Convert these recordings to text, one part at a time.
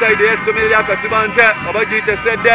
sayidi ey'essomero lya kasibante oba giyite sedde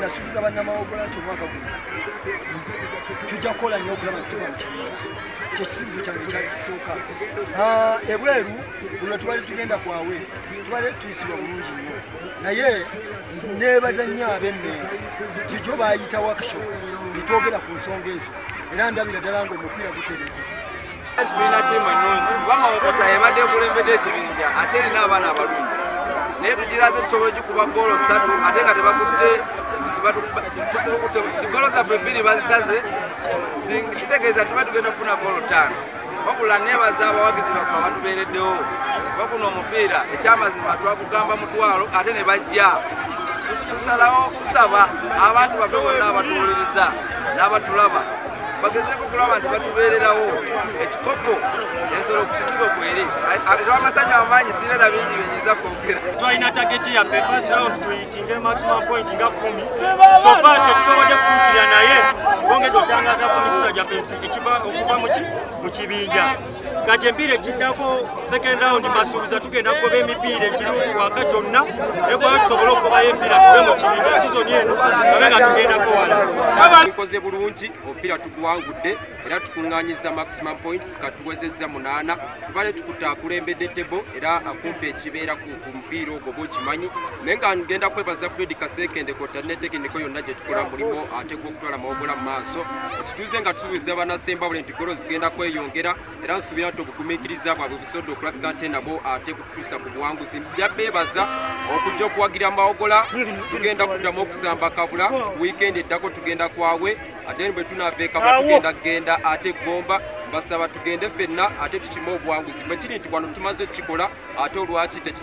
nasuubiza bannamawogola nti omwaka guno tujja kukola nyo okulaba nti tuva mu kibiina kyekisuubizo kyange kyakisooka ah, ebweru buno tubali tugenda kwawe tubali tuyisibwa bulungi nnyo naye neebaza nnyo ab'emmengo kijo baayita wakisho netwogera ku nsonga ezo era ndabira ddala ngaomupiira guteredde tulina tiimu ennungi kuba mawokota ebadde ekulembedde ekibinja ate erina abaana abalungi naye tugiraze tusobola okikuba goolo ssatu ate nga tebakutte goolo zaffe ebbiri bazisaze kitegeeza tuba tugenda kufuna goolo ttaano wabula nebaza abawagizi baffe abatubeereddewo waguno omupiira ekyamazima twakugamba mutwalo ate ne bajja tusalawo kusaba abantu baffe bonna abatuwuliriza n'abatulaba bagezeeko okulaba nti batubeererawo ekikopo ensolo ku kizigo kweri lwamasanyu amaanyi sirina na bingi byenyinza kwogera twalina tageti yaffe first round tuyitinge maximum point nga kumi sofa tetusobodde kutuukira naye bongedde otangaza ku mikisa gyaffe ekiva okuva mu kibinja kati empiira ekiddako second round basuubiza tugenda kugoba emipiira egiri muwaka gyonna nekwaa tusobole okugobayo empiira tuve mu kibinja sizoni eno abe nga tugenda kuwala tukoze bulungi omupiira tuguwangudde era tukuŋŋanyiza maximum points katuwezezza munaana tubale tukuta akulembedde tebo era akumpa ekibeeraku omupiira ogwo bukimanyi naye nga ngenda kwebaza fred kasekende kota ne tekiniko yonna gye tukola mulimu ate gwokutwala mawugula mu maaso kituuze nga tusuubiza banasembabule nti golo zigenda kweyongera era nsuubira nti obugumiikiriza bwabwe busobodde okulabika nte nabo ate kututuusa ku buwanguzi jabbeebaza okujja okuwagira mawogola tugenda kuddamu okusamba kabula wiikendi eddako tugenda kwawe aden bwe tunaveekaba tugenda kugenda ate gomba basaba tugende fenna ate tukime obuwanguzi bwekiri nti wano tumaze okukikola ate olwaki tekiso